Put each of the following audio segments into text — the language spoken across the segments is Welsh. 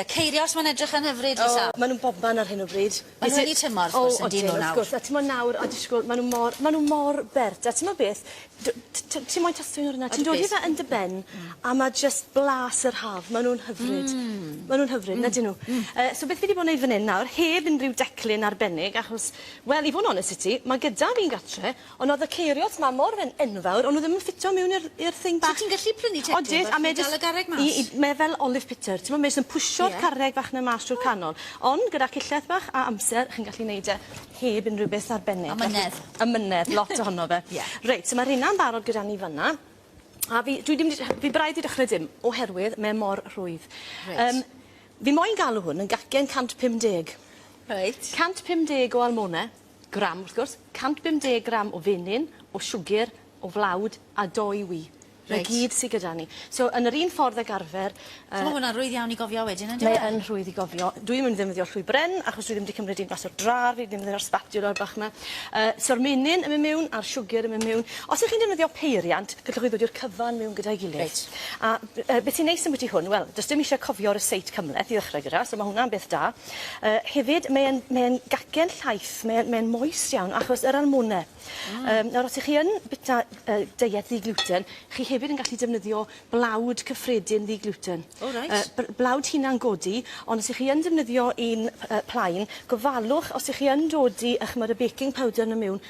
Ie, Ceirios, mae'n edrych yn hyfryd i Sam. O, maen nhw'n bobman ar hyn o bryd. Maen nhw wedi tymor, wrth gwrs, yndy nhw nawr. O, odyn, wrth gwrs. A timod nawr, o, disgwyl, maen nhw mor, maen nhw mor bert. A timod beth, d- t- t- ti moyn tostio un o'r yna? Ti'n dod i fe yn dy ben, a mae jyst blas yr haf. Maen nhw'n hyfryd. Maen nhw'n hyfryd, yn ydyn nhw? Yy, so beth fi 'di bod yn wneud fan hyn nawr, heb unrhyw declyn arbennig, achos, wel, i fod yn onest 'da ti, mae gyda fi'n gartre, Ond oedd y ceirios ma mor yn enfawr o'n nhw ddim yn ffitio mewn i'r i'r thing bach. So ti'n gallu prynu Tetris Odwyt, a fel mae chi'n dal y garreg mas? i- i- mae fel olive pitter t'mo' mae jyst yn pwsio'r Ie. carreg fach 'na mas trwy'r canol. Ond gyda cillell bach a amser chi'n gallu neud e heb unrhyw beth arbennig. Amynedd. Amynedd lot ohono fe. Ie. Reit so ma' rheina'n barod gyda ni fan 'na. A fi dwi dim 'di rh- fi braidd 'di dechre dim oherwydd mae e mor rhwydd. Reit. Yym fi moyn galw hwn yn gacen 150. Reit. 150 o almone. gram, wrth gwrs, 150 gram o fenyn, o siwgr, o flawd a dou ŵy. Reit. 'Na gyd sy gyda ni. So yn yr un ffordd ag arfer yy... So ma' hwnna'n rwydd iawn i gofio wedyn on'd yw e? Mae yn rhwydd i gofio. Dwi'm yn ddefnyddio llwy bren achos dwi ddim 'di cymryd un mas o'r drar fi ddim efo'r sbatiwlar bach 'ma. Yy so'r menyn yn myn' miwn a'r siwgyr yn myn' miwn. Os 'ych chi'n defnyddio peiriant gellwch chi ddod i'r cyfan miwn gyda'i gilydd. Reit. A b- yy beth sy'n neis ambwti hwn wel do's dim isie cofio rysáit cymleth i ddechre gyda so ma' hwnna'n beth da. Yy hefyd mae e'n mae e'n gacen llaith mae e'n mae e'n moist iawn achos yr almone. Hmm. Yym nawr os 'ych chi yn bita yy deiet ddi gluten chi hefyd yn gallu defnyddio blawd cyffredin ddi gluten. O reit. Yy bl- blawd hunan godi ond os 'ych chi yn defnyddio un yy plaen gofalwch os 'ych chi yn dodi 'ych ch'mod y baking powder 'na miwn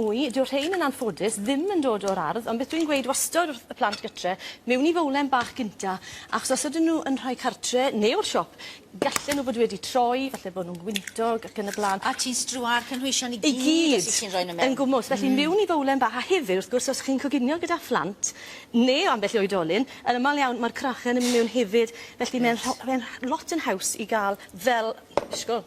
Wy, dyw rhein yn anffodus ddim yn dod o'r ardd, ond beth dwi'n gweud wastod wrth y plant gytre, mewn i fowlen bach gynta, achos os ydyn nhw yn rhoi cartre neu o'r siop, gallen nhw fod wedi troi, falle bod nhw'n gwyntog ac yn y blaen. A ti'n strua'r cynhwysion i gyd os wyt ti'n rhoi nhw mewn? I gyd, yn gwmws, felly mewn i fowlen bach, a hefyd wrth gwrs os chi'n coginio gyda phlant neu ambell i oedolyn, yn aml iawn mae'r crachen yn mynd mewn hefyd, felly mae'n rho- mae'n lot yn haws i gael fel, disgwl,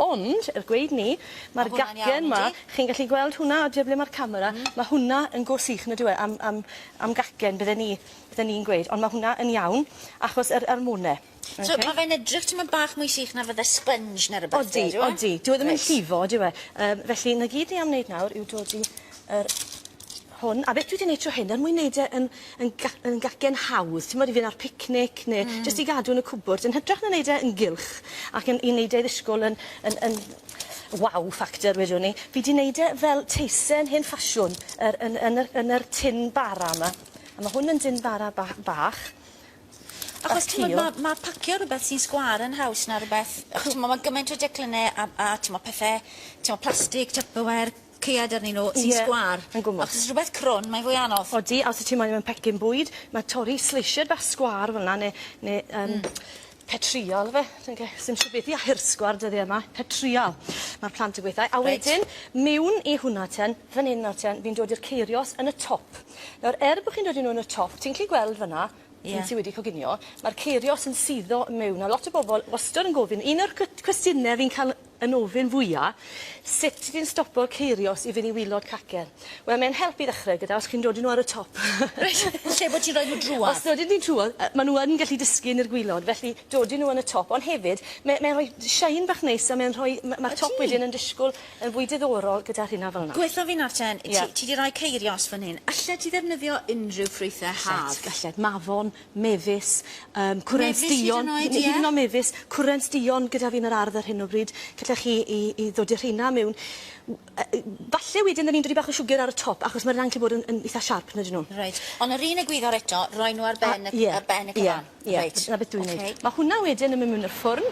Ond, er gweud 'ny, ma'r gacen 'ma, chi'n gallu gweld hwnna oddi ar ble ma'r camera, ma' hwnna yn go sych on'd yw e am am am gacen bydden ni bydden ni'n gweud ond ma' hwnna yn iawn achos yr yr môn e. Oce? So ma' fe'n edrych tymed bach mwy sych na fydde sponge ne' rwbeth de on'd yw e? Odi odi. Dyw e ddim yn llifo dyw e? Yym felly 'na gyd ni am neud nawr yw dodi yr hwn a beth dwi 'di neud tro hyn er mwyn neud e yn yn ga- yn gacen hawdd t'mod i fyn' ar picnic ne'... Hmm. ...jyst i gadw yn y cwbwrdd yn hytrach na neud e yn gylch ac yn i neud e i ddisgwl yn yn yn wow factor wedwn i fi 'di neud e fel teisen hen ffasiwn yr yn yn yr yn yr tin bara 'ma a ma' hwn yn dyn bara ba- bach bach cul. Achos t'mod ma' ma' pacio rwbeth sy'n sgwâr yn haws na rwbeth yy ch'mo' ma' gymaint o declynne a a t'mo' pethe t'mo' plastig tupperware Ceuad arnyn nhw sy'n sgwâr. Ie, yn gwmws. Os oes rhywbeth crwn, mae'n fwy anodd. Odi, a os wyt ti moyn mewn pecyn bwyd, mae torri sleisied bach sgwâr fel 'na neu neu yym petrîal ife? Dwi'm yn gwybod, sdim siŵr beth i air sgwâr dyddiau 'ma. Petrîal, mae'r plant yn gweud. A wedyn, miwn i hwnna ten, fan hyn nawr ten, fi'n dod i'r ceirios yn y top. Nawr, er bod chi'n dod i nhw yn y top, ti'n gallu gweld fan 'na, ti sy wedi coginio, mae'r ceirios yn suddo mewn. Nawr, lot o bobl wastad yn gofyn, un o'r cwestiynau fi'n cael yn ofyn fwya, sut ti'n stopo ceirios i fyn' i wilod cacen? Wel mae'n help i ddechre gyda os chi'n dodi n'w ar y top. Reit, lle bo' ti'n roi n'w drwodd? Os dodi n'w trwodd yy ma' n'w yn gallu disgyn i'r gwilod felly dodi n'w yn y top ond hefyd me- mae'n rhoi shine bach neis a mae'n rhoi ma' ma'r top wedyn yn disgwl yn fwy diddorol gyda rhina fel 'na. Gwethw fi nawr ten, ti ti 'di roi ceirios fan hyn, allet ti ddefnyddio unrhyw ffrwythe haf? Allet, allet, mafon, mefus, yym cwrent duon... Mefus hyd yn oed, ie? ...hyd yn oed mefus, cwrent duon gyda fi yn yr ardd ar hyn o bryd, gallech chi 'i 'i ddodi y rheina miwn. W- yy yy falle wedyn 'dyn ni'n dodi bach o siwgr ar y top achos ma'r rheina'n gallu bod yn yn itha siarp on'd 'yn nw? Reit. On' yr un egwyddor eto, roi nw ar ben y c-... A ie. ...ar ben y cyfan? Ie ie. Reit. 'Na beth dwi'n neud. Oce. Ma' hwnna wedyn yn myn' miwn y ffwrn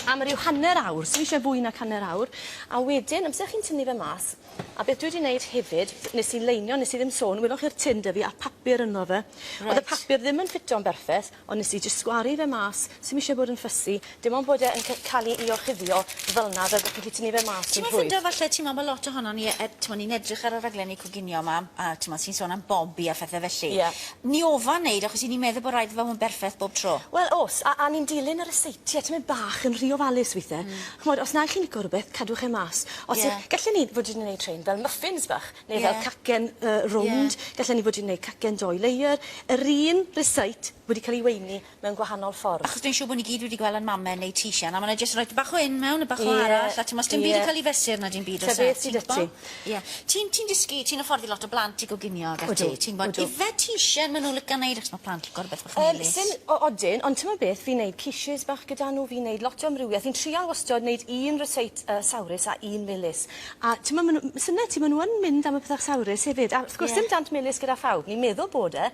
am ryw hanner awr, sdim isie fwy nag hanner awr, a wedyn amser chi'n tynnu fe mas, A beth dwi 'di neud hefyd, t- nes i leinio, nes i ddim sôn, welwch chi'r tin 'da fi a'r papur ynddo fe. Reit. O'dd y papur ddim yn ffito'n berffeth, ond nes i jyst sgwaru fe mas, sim isie bod yn fussy, dim ond bod e yn c- ca'l 'i 'i orchuddio fel 'na fel bo' chi 'di tynnu fe mas yn rhwydd. Ti'mo' ffindo falle ti'mo' ma' lot ohonon ni yy ti'mo' ni'n edrych ar y rhaglenni coginio 'ma a ti'mo' sy'n sôn am Bobi a phethe felly. Ie. Ni ofon neud achos 'yn ni'n meddwl bo' raid i fe fo' yn berffeth bob tro. Wel o's a a ni'n dilyn y reseiti a ti myn' bach yn rhy ofalus withe. Hmm. Ch'mod os nag chi'n lico rwbeth cadwch e mas. Os yy... Ie. ...gallen ni fod yn neud rhein fel muffins bach neu fel... Ie. ...cacen yy rownd. Ie. Gallen ni fod yn neud cacen dou layer. Yr un recite wedi ca'l 'i weini mewn gwahanol ffordd. Achos dwi'n siŵr bo' ni gyd wedi gwel' 'yn mame neu' teachen a ma' 'na jyst roid bach o 'yn mewn a bach o arall a t'mo' sdim byd yn ca'l 'i fesur na dim byd o's e? Ti'n gwbo? Ie. Ti'n ti'n dysgu ti'n hyfforddi lot o blant i goginio ac ati... Odw odw. ...ti'n gwbod ife ti isie ma' n'w lico neud achos ma' plant lico rwbeth bach melys. Yym syn- o- odyn ond t'mod beth fi'n neud quiches bach gyda n'w fi'n neud lot o amrywieth fi'n trial wastod neud un ryseit yy sawrus a un melys a t'mo' ma' n'w symle ti ma' n'w yn mynd am y pethe sawrus hefyd a wrth gwrs... Ie. ...dim dant melys gyda phawb ni'n meddwl bod e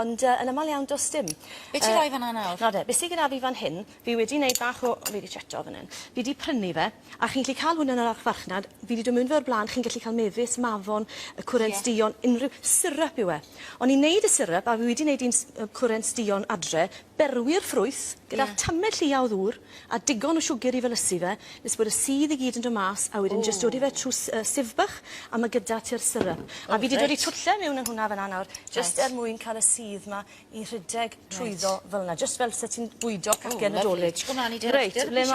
ond yy yn amal iawn do's dim. Be' ti roi fan 'na nawr? Nawr de be' sy gyda fi fan hyn fi wedi neud bach o fi 'di cheto fan 'yn fi 'di prynu fe A chi'n gallu cael hwn yn yr archfarchnad. Fi 'di dod miwn 'fo fe o'r bla'n. Chi'n gallu cael mefus, mafon, yy cwrent... Ie. ...duon, unrhyw... Syrup yw e. O'n i'n neud y syrup a fi wedi neud un s- yy cwrent duon adre. Berwi'r ffrwyth gyda... Ie. ...tamed llia o ddŵr a digon o siwgr i felysu fe nes bod y sudd i gyd yn do' mas a wedyn... Ww. ...jyst dod i fe trw s- yy sieve bach a ma' gyda ti'r syrup. O reit. A fi 'di dod 'u twtlle miwn yn hwnna fynna nawr. Reit. Jyst er mwyn ca'l y sudd 'ma i rhedeg trwyddo... Reit. ...fel 'na. Jyst fel se ti'n bwydo cacen Nadolig. O lyfli. Dych chi'n myn' mlan i dy ardd-... Reit le ma'